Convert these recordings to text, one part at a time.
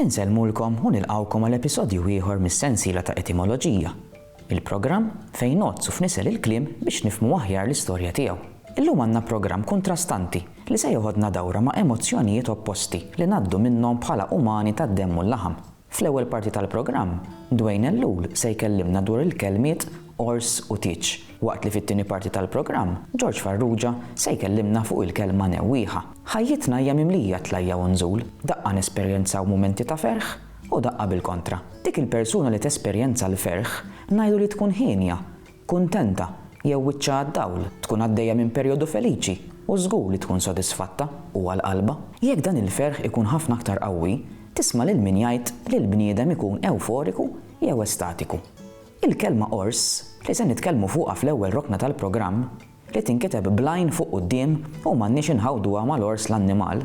Insellmulkom u nilqgħukom għal episodju ieħor mis-sensiela ta' Etimoloġija, il-programm fejn ngħoddsu f'nisel il-kliem biex nifhmu aħjar l-istorja tiegħu. Illum għandna programm kuntrastanti li se jeħodna dawra ma' emozzjonijiet opposti li ngħaddu minnhom bħala umani tad-demm u l-laħam. Fl-ewwel parti tal-programm, Dwayne Ellul se jkellimna dwar il-kelmiet 'ors' u 'tieġ' Waqt li fit-tieni parti tal-programm, George Farrugia se jkellimna fuq il-kelma newwieħa. Ħajjitna hija mimlija tlajja' u nżul, daqqa nesperjenzaw mumenti ta' ferħ u daqqa bil-kontra. Dik il-persuna li tesperjenza l-ferħ ngħidu li tkun hienja, kuntenta jew wiċċha għad-dawl, tkun għaddejja minn perjodu feliċi u żgur li tkun sodisfatta u għal qalbha. Jekk dan il-ferħ ikun ħafna aktar qawwi, tisma' lil min jgħid li l-bniedem ikun ewforiku jew estatiku. Il-kelma qors, li se nitkellmu fuqha fl-ewwel rokna tal-programm, li tinkiteb bl-għajn fuq quddiem u m'għandniex inħawduha mal-għors l-annimal,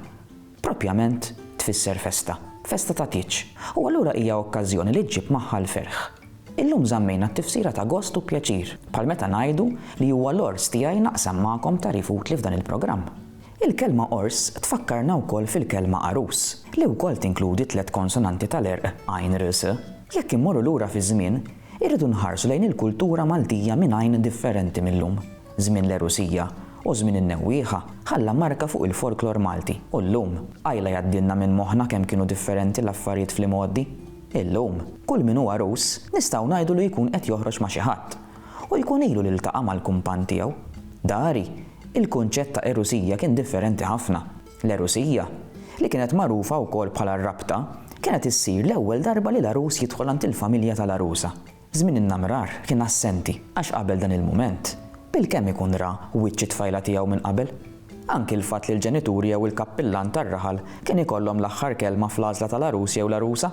proprjament tfisser festa. Festa ta' tieġ. U allura hija okkażjoni li ġġib magħha l-ferħ. Illum żammejna t-tifsira ta' gost u pjaċir, bħal meta ngħidu li huwa l-għors tiegħi naqsam magħkom tagħrif utli f'dan il-programm. Il-kelma qors tfakkarna wkoll fil-kelma għarus, li wkoll tinkludi t-tliet konsonanti tal-għerq għajn r s. Jekk immorru lura fiż-żmien, irridu nħarsu lejn il-kultura Maltija minn għajn differenti mil-lum. Żmien l-għerusija u żmien in-newwieħa ħalla marka fuq il-folklor Malti u llum, qajla jgħaddilna minn moħħna kemm kienu differenti l-affarijiet fl-imgħoddi. Illum, kull min hu għarus nistgħu ngħidu li jkun qed joħroġ ma' xi ħadd u jkun ilu li ltaqa' mal-kumpann tiegħu. Dari, Il-kunċett ta' erusija kien differenti ħafna. L-erusija, li kienet magħrufa wkoll bħala r-rabta, kienet issir l-ewwel darba li l-għarus jidħol għand il-familja tal-għarusa. Żmien in-namrar kien assenti għax qabel dan il-mument, bilkemm ikun ra wiċċ it-tfajla tiegħu minn qabel. Anki l-fatt li l-ġenituri jew il-kappillan tar-raħal kien ikollhom l-aħħar kelma fl-għażla tal-għarus jew l-għarusa.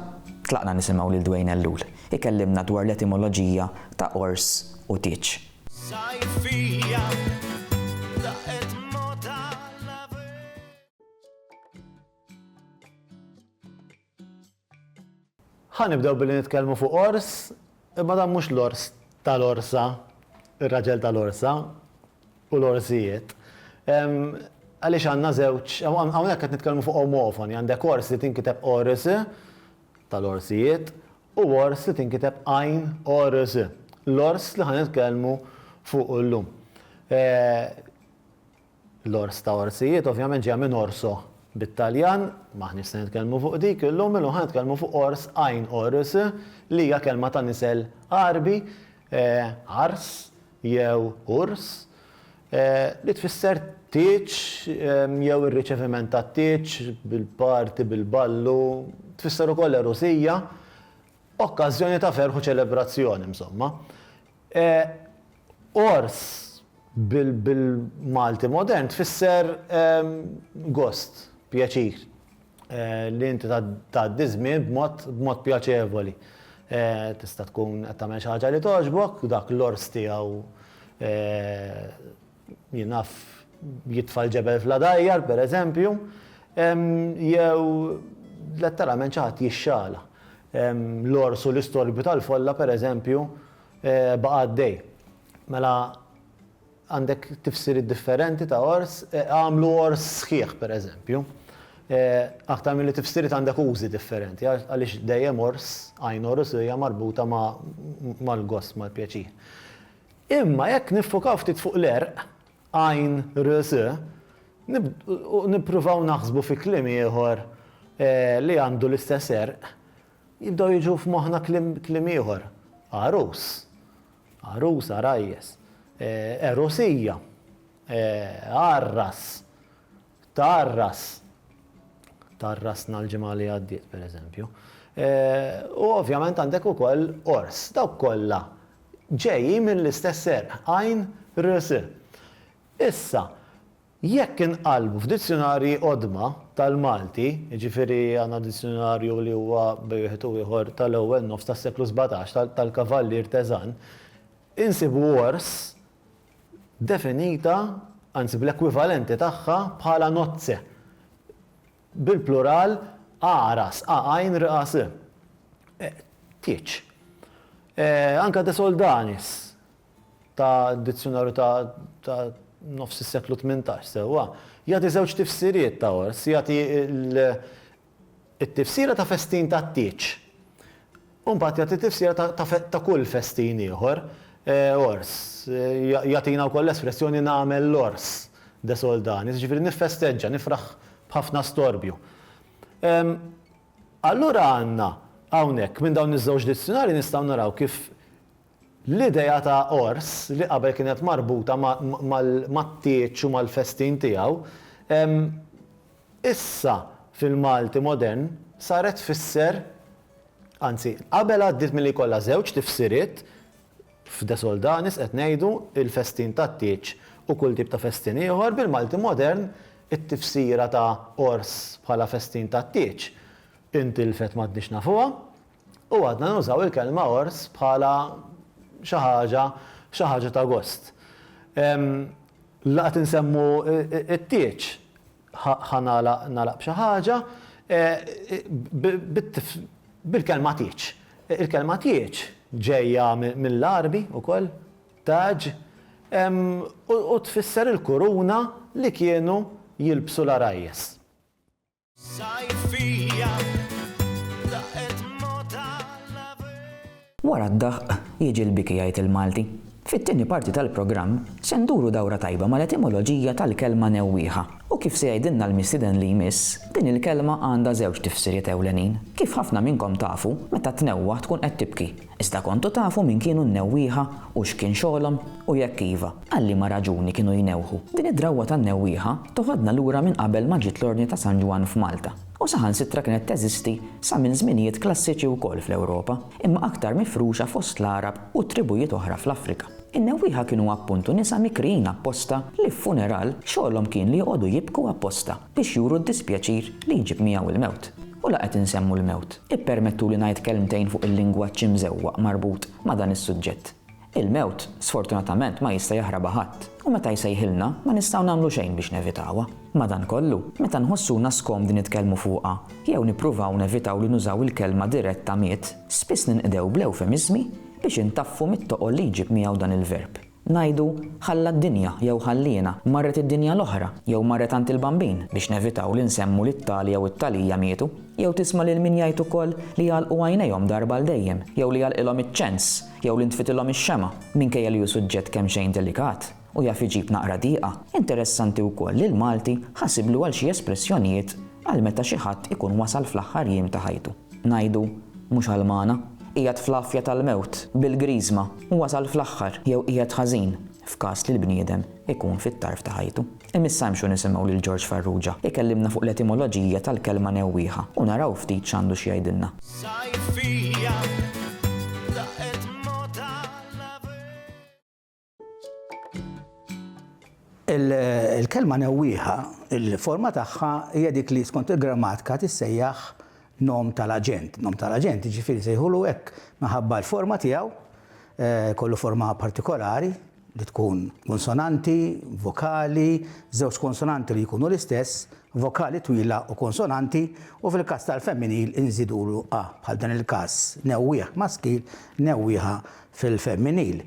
Tlaqna nisimgħu lil Dwayne Ellul ikellimna dwar l-etimoloġija ta' għors u tieġ. Ħa nibdew billi nitkellmu fuq ors, imma dan mhux l-ors tal-orsa, ir-raġel tal-orsa u l-orsijiet. Għaliex għandna żewġ, hawnhekk qed nitkellmu fuq omofoni, għandek ors li tinkiteb ors tal-orsijiet u ors li tinkiteb għajn ors, l-ors li ħa nitkellmu fuqu llum. L-ors ta' orsijiet ovvjament ġejja minn orso bit-Taljan, m'aħniex se nitkellmu fuq dik illum, illum ħa nitkellmu fuq ors għajn ors li hija kelma ta' nisel Għarbi, għars, jew urs, li tfisser tieġ jew ir-riċeviment tat-tieġ bil-parti, bil-ballu, tfisser ukoll għerusija, okkażjoni ta' ferħ u ċelebrazzjoni, insomma. Għors bil-Malti modern tfisser gost, pjaċir. li inti tgħaddi ż-żmien b'mod pjaċevoli. Tista' tkun qed tagħmel xi ħaġa li togħġbok, dak l-ors tiegħu jaf jitfa' l-ġebel fl-għadajjar, pereżempju, jew letteralment xi ħadd jixxala. L-ors u l-istorbju tal-folla, pereżempju, baqa' għaddej. Mela, Għandek tifsiriet differenti ta' għors, għamlu għors sħiħ, pereżempju. Aktar milli tifsiriet għandek użi differenti għaliex dejjem għors, għajn għorus hija marbuta mal-gost, mal-pjaċir. Imma jekk niffukaw ftit fuq l-għerq, għajn rs, u nippruvaw naħsbu fi kliem ieħor li għandu l-istess għerq, jibdew jiġu f'moħħna kliem ieħor, għarus. Għarusa, rajjes. Għerusija. Għarras. Tgħarras. Tgħarrasna l-ġimgħa li għaddiet, pereżempju. U ovvjament għandek ukoll qors. Dawk kollha ġejjin mill-istess għerq, għajn, rs. Issa, Jekk inqallbu f'dizzjunarji qodma tal-Malti, jiġifieri għandna dizzjunarju li huwa bejn wieħed u ieħor tal-ewwel nofs tas-seklu sbatax tal-Kavallier Teżan, insibu għors definita, anzi bl-ekwivalenti tagħha bħala nozze, bil-plural agħras, a-għajn-r-a-s, tieġ. Anke de soldanis, ta' dizzjunarju ta' ta' nofs is-seklu tmintax, sewwa, jagħti żewġ tifsiriet ta' għors, jagħti l, it-tifsira ta' festin tat-tieġ, u mbagħad jagħti t-tifsira ta' ta' fe ta' kull festin ieħor, għors, ja jagħtina wkoll l-espressjoni nagħmel l-għors de Soldanis, jiġifieri niffesteġġa, nifraħ b'ħafna storbju. Ehm, allura għandna hawnhekk minn dawn iż-żewġ dizzjunarji nistgħu naraw kif L-idea ta' għors, li qabel kienet marbuta mat-tieġ u mal-festin tiegħu, issa fil-Malti modern saret tfisser, anzi, qabel għaddiet milli jkollha żewġ tifsiriet, f'De Soldanis qed ngħidu, il-festin tat-tieġ u kull tip ta' festin ieħor, bil-Malti modern it-tifsira ta' għors bħala festin tat-tieġ intilfet m'għadniex nafuha. U għadna nużaw il-kelma ors bħala xi ħaġa, xi ħaġa ta' gost. La qed insemmu t-tieġ, ħa nagħlaq, nagħlaq b'xi ħaġa, bil-kelma tieġ. Il-kelma tieġ ġejja mill-Għarbi wkoll, taġ, u tfisser il-kuruna li kienu jilbsu l-għarajjes. Wara d-daħq jiġi l-biki jgħid il-Malti. Fit-tieni parti tal-programm se nduru dawra tajba mal-etimoloġija tal-kelma newwieħa u kif se jgħidilna l-mistieden li jmiss, din il-kelma għandha żewġ tifsiriet ewlenin. Kif ħafna minnkom tafu, meta tnewwaħ tkun qed tibki. Iżda kontu tafu min kienu n-newwieħa u x'kien xogħolhom? U jekk iva, għal liema raġuni kienu jnewħu? Din id-drawwa tan-newwieħa toħodna lura minn qabel ma ġiet l-Ordni ta' San Ġwann f'Malta, u saħansitra kienet teżisti sa minn żminijiet klassiċi wkoll fl-Ewropa, imma aktar mifruxa fost l-Għarab u tribujiet oħra fl-Afrika. In-newwieħa kienu appuntu nisa mikrijin apposta li f'funeral xogħolhom kien li joqogħdu jibku apposta. biex juru d-dispjaċir li jġib miegħu l-mewt. U la qed insemmu l-mewt, ippermettuli ngħid kelmtejn fuq il-lingwaġġ imżewwaq marbut ma' dan is-suġġett. Il-mewt, sfortunatament, ma jista' jaħrabha ħadd, u meta jsejħilna, ma nistgħu nagħmlu xejn biex nevitawha. Madankollu, meta nħossuna skomdi nitkellmu fuqha, jew nippruvaw nevitaw li nużaw il-kelma diretta miet, spiss ninqdew bl-ewfemiżmi biex intaffu mit-toqol li jġib miegħu dan il-verb. Ngħidu, ħalla d-dinja, jew ħalliena, marret id-dinja l-oħra, jew marret għand il-Bambin, biex nevitaw li nsemmu li t-tali jew it-talija mietu. Jew tisma' lil min jgħid ukoll li jagħlqu għajnejhom darba għal dejjem, jew li jagħlqilhom iċ-ċens, jew li ntfitilhom ix-xemgħa, minkejja li hu suġġett kemxejn delikat u jaf iġib naqra diqa. Interessanti wkoll li l-Malti ħasiblu għal xi espressjonijiet għal meta xi ħadd ikun wasal fl-aħħar jiem ta' ħajtu. ngħidu mhux għalmana, qiegħed fl-għafja tal-mewt, bil-griżma, u wasal fl-aħħar, jew qiegħed ħażin, f'każ li l-bniedem ikun fit-tarf ta' ħajtu. Imma issa imxu nisimgħu lil Ġorġ Farrugia jkellimna fuq l-etimoloġija tal-kelma newwieħa u naraw ftit x'għandu x'jgħidilna. Il-kelma newwieħa, il-forma tagħha hija dik li skont il-grammatika tissejjaħ nom tal-aġent. Nom tal-aġent jiġifieri sejħulu hekk minħabba l-forma tiegħu, eh, kollu forma partikolari li tkun konsonanti, vokali, żewġ konsonanti li jkunu l-istess, vokali twila u konsonanti u fil-każ tal-femminil inżidulu a bħal dan il-każ newwieħ maskil, newwieħa fil-femminil.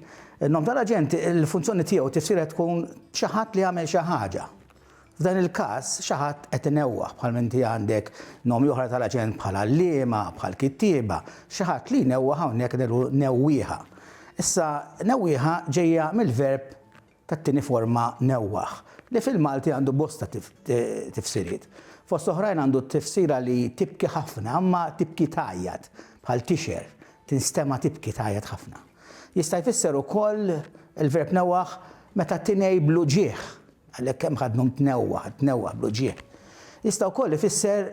In-nom tal-aġent, il-funzjoni tiegħu u t-tifsira tkun xi ħadd li għamel xi ħaġa. F'dan il-każ, xi ħadd qed inewwaħ, bħalminti għandek nomi oħra tal-aġent bħal għalliema, bħal kittieba, xi ħadd li jnewwaħ hawnhekk qed ngħidu newwieħa. Issa, newwieħa ġejja mill-verb tat-tieni forma newwaħ, li fil-Malti għandu bosta tifsiriet. Fost oħrajn għandu t-tifsira li tibki ħafna imma tibki tgħajjat, bħal tixher, tinstema' tibki tgħajjat ħafna. Jista' jfisser ukoll, il-verb newwaħ, meta tinegħi bl-uġigħ, għalhekk hemm ħadnhom tnewwaħ, tnewwaħ bl-uġigħ. Jista' wkoll ifisser,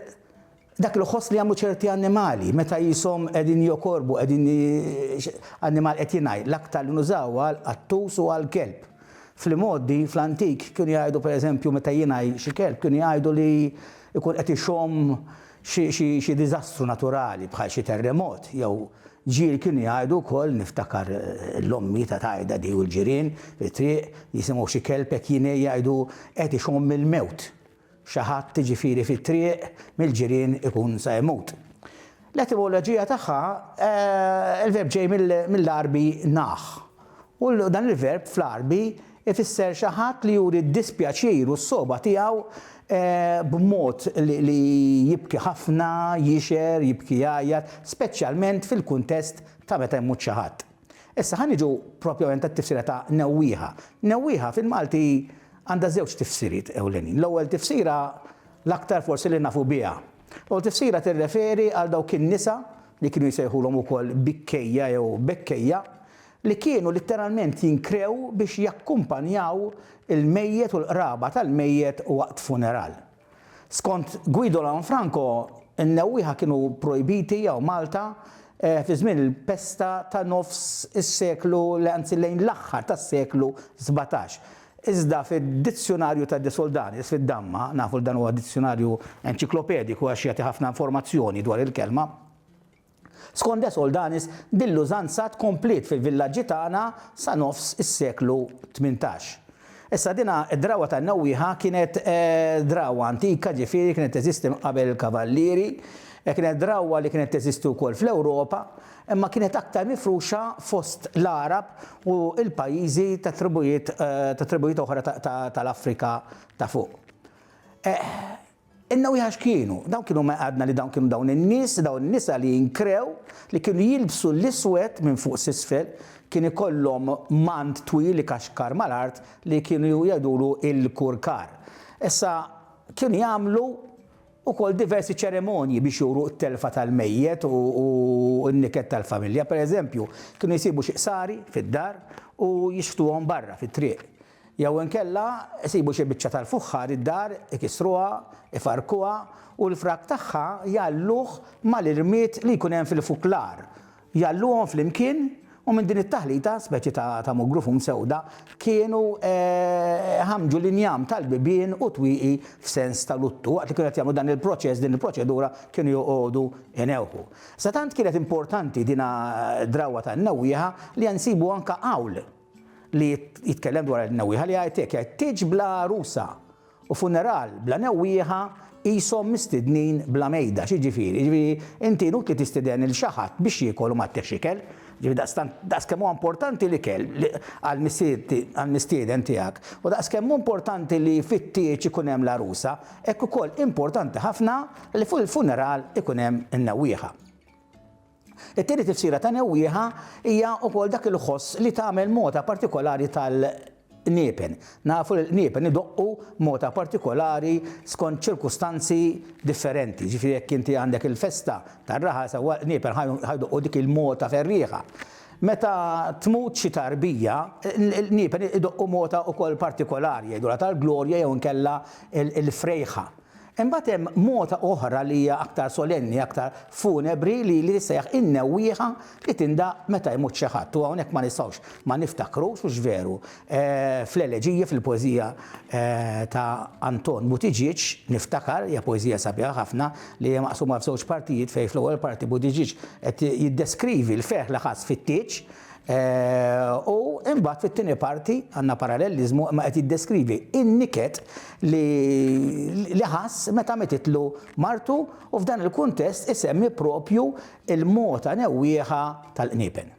Dak li ħoss li jagħmlu ċerti annimali meta qishom qegħdin jokorbu, qegħdin annimal qed jingħi, l-aktar li nużaw għal qattus u għal kelb. Fl-imgħoddi, fl-antik, kienu jgħidu per eżempju meta jingħi xi kelb kienu jgħidu li jkun qed ixomm xi xi diżastru naturali bħal xi terremot jew ġir kienu jgħidu wkoll niftakar l-ommi ta' tgħidha di u l-ġirien fit-triq jisimgħu xi kelb hekk jingħi jgħidu qed ixomm il-mewt. Xi ħadd jiġifieri fit-triq mill-ġirien ikun sa jmut. L-etimoloġija tagħha, il-verb ġej mill-Għarbi nah, u dan il-verb fl-Għarbi jfisser xi ħadd li juri d-dispjaċir u s-sogħba tiegħu b'mod li jibki ħafna, jixher, jibki jgħajjat, speċjalment fil-kuntest ta' meta jmut xi ħadd. Issa ħa niġu propjament għat-tifsira ta' newwieha. Newwieha fil-Malti għandha żewġ tifsiriet ewlenin. L-ewwel tifsira, l-aktar forsi li nafu biha. L-ewwel tifsira tirreferi għal dawk in-nisa, li kienu jsejħulhom ukoll bikkejja jew bekkejja, li kienu litteralment jinkrew biex jakkumpanjaw il-mejjet u l-qraba tal-mejjet waqt funeral. Skont Guido Lanfranco, in-newwieħa kienu projbiti hawn Malta fi żmien il-pesta ta' nofs is-seklu, anzi lejn l-aħħar tas-seklu sbatax. Iżda fid-Dizzjunarju ta' De Soldanis fid-Damma, nafu li dan huwa dizzjunarju enċiklopediku għax jagħti ħafna informazzjoni dwar il-kelma, Skont De Soldanis, din l-użanza tkompliet fil-villaġġi tagħna sa nofs is-seklu tmintax. Issa dina d-drawwa tan-Newwieħa kienet drawwa antika ġifieri kienet teżisti minn qabel il-Kavallieri, kienet drawwa li kienet teżisti wkoll fl-Ewropa imma kienet aktar mifruxa fost l-Għarab u l-pajjiżi tat-tribujiet tat-tribujiet oħra tal-Afrika ta' fuq. In-newieħa x'kienu? Dawn kienu ma għadna li dawn kienu dawn in-nies, dawn in-nisa li jinkrew, li kienu jilbsu l-iswed minn fuq s'isfel, kien ikollhom mant twil ikaxkar mal-art li kienu jgħidulu l-kurkar. Issa, kienu jagħmlu wkoll diversi ċeremonji biex juru t-telfa tal-mejjet u n-niket tal-familja. Pereżempju, kienu jsibu xi qsari fid-dar u jixħtuhom barra fit-triq. Jew inkella isibu xi biċċa tal-fuħħar id-dar, ikissruha, ifarrkuha u l-frak tagħha jgħalluh mal-irmied li jkun hemm fil-fuklar. Jgħalluhom flimkien u minn din it-taħlita, speċi ta' mugru fum sewda, kienu iħammġu l-injam tal-bibien u t-twieqi f'sens ta' luttu. Waqt li kienu qed jagħmlu dan il-proċess, din il-proċedura, kienu joqogħdu inewħu. Sa tant kienet importanti din d-drawwa tan-newwieħa li nsibu anke hawl li jitkellem dwar il-newwieħa li jgħid hekk, jgħid, Tieġ bla għarusa u funeral bla newwieħa qishom mistednin bla mejda. X'jiġifieri? Jiġifieri inti inutli tistiden lil xi ħadd biex jiekol u ma tteħx ikel. Jiġifieri daqstant daqskemm huwa importanti l-ikel għall-mistieden tiegħek u daqskemm hu importanti li fit-tieġ ikun hemm l-għarusa, hekk ukoll importanti ħafna li fuq il-funeral ikun hemm in-newwieħa. It-tieni tifsira ta' newwieħa hija wkoll dak il-ħoss li tagħmel mota partikolari tal-qniepen. Nafu li l-qniepen idoqqu mota partikolari skont ċirkustanzi differenti. Jiġifieri jekk inti għandek il-festa tar-raħal sewwa l-qniepen ħa jdoqqu dik il-mota ferrieħa. Meta tmut xi tarbija, l-qniepen idoqqu mota wkoll partikolari, jgħidulha tal-glorja jew inkella l-frejħa. Imbagħad hemm mogħta oħra li hija aktar solenni, aktar funebri li li tissejjaħ in-newwieħa li tindaqq meta jmut xi ħadd u hawnhekk ma nistgħux ma niftakrux hux veru fl-eleġija fil-poeżija ta' Anton Buttigieg niftakar hija poeżija sabiħa ħafna li hija maqsuma f'żewġ partijiet fejn fl-ewwel parti Buttigieg qed jiddeskrivi l-ferħ li ħass fit-tieġ U imbagħad fit-tieni parti għandna paralleliżmu imma qed jiddeskrivi n-niket li li ħass meta mititlu martu u f'dan il-kuntest isemmi propju l-mogħta newwieħa tal-qniepen.